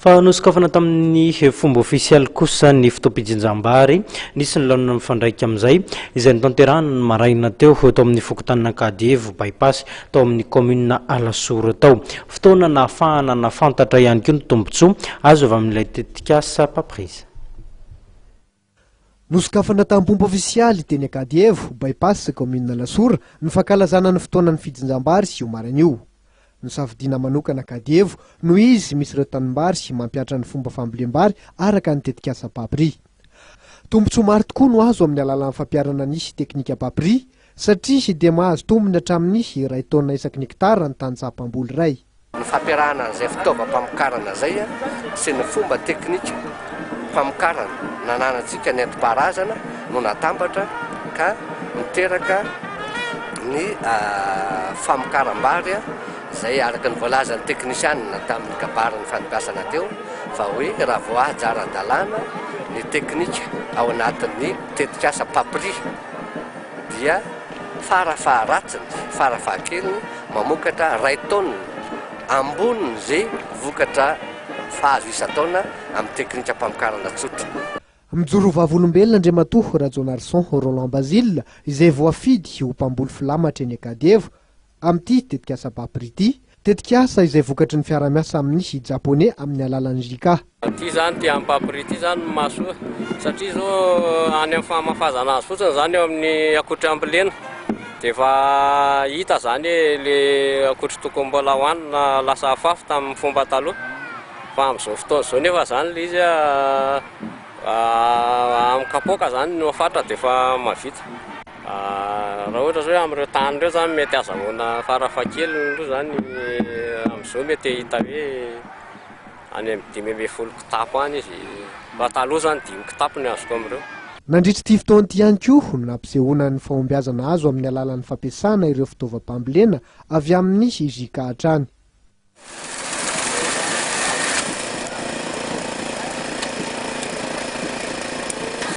Fa nosokafana tamin'ny fomba ofisialy kosa ny fotoam-pijinjam-bary. Nisy ny laonina mifandraika amin'izay, izay notanterahana ny maraina teo, tao amin'ny fokontanin'Ankadievo By-pass, tao amin'ny kaominina Alasora tao. Fotoana nahafahana nahafantatra ihany koa ny tombontsoa azo avy amin'ilay tetikasa Papriza. Nosokafana tamim-pomba ofisialy teny Ankadievo, By-pass, kaominina Alasora, ny fankalazana ny fotoanan'ny fijinjam-bary sy io marina io. Nosafidiana manokana Ankadievo noho izy misy ireo tanimbary mampiatra ny fomba fambolem-bary araka ny tetikasa Papri. Tombontsoa maro tokoa no azo amin'ny alalan'ny fampiharana ny teknika Papri satria dia mahazo tombony hatramin'ny iray taonina isaky ny hektara ny tany tsaha mpamboly iray. Ny fampiarahana an'izay fitaovam-pamokarana izay sy ny fomba teknika famokarana nananantsika nentim-paharazana no natambatra ka niteraka ny famokaram-bary izay araka ny voalazan'ny teknisianina tamin'ny kabarin'ny fanibasana teo fa hoe raha vao ahy jara an-dalàna ny teknika ao anatin'ny tetikasa Papri dia fara faharatsiny, fara fahakeliny, mamokatra iray taonina ambonin' ze vokatra fahazo isan-taona amin'ny teknikam-pamokarana tsotra. Mijoro vavolombelona Andriamatoa Rajaonarison Roland Bazile izay voafidy ho mpamboly filamatra eny Ankadievo amin'ity tetikasa Bapr ity, tetikasa izay vokatry ny fiarahamiasa amin'ny Japoney amin'ny alalan'ny JICA. Ity zany ity an'i Papri ity zany no mahasoa satria izao any amin'ny fahamafazana azy fotsiny zany eo amin'ny akotry ambolena dia efa hita zany hoe le akotry tokony mbola hohanina lasa afafy tamin'ny fomba taloha fa amin'izao fotoana izao nefa zany le izy amin'ny kapoaka zany no fatra dia efa mahavita raha ohatra izao hoe amin'ireo tany ireo zany mety azahoana farafahakeliny aloha zany amin'izao mety hahita hoe Any amin'ny dimy ambin'ny folo kitapo any izy. Raha taloha izany dimy kitapo ny azoko amin'ireo. Nandritra ity fotoana ity ihany koa no nampisehoana ny fahombiazana azo amin'ny alalan'ny fampiasana ireo fitaovam-pambolena avy amin'ny JJK hatrany.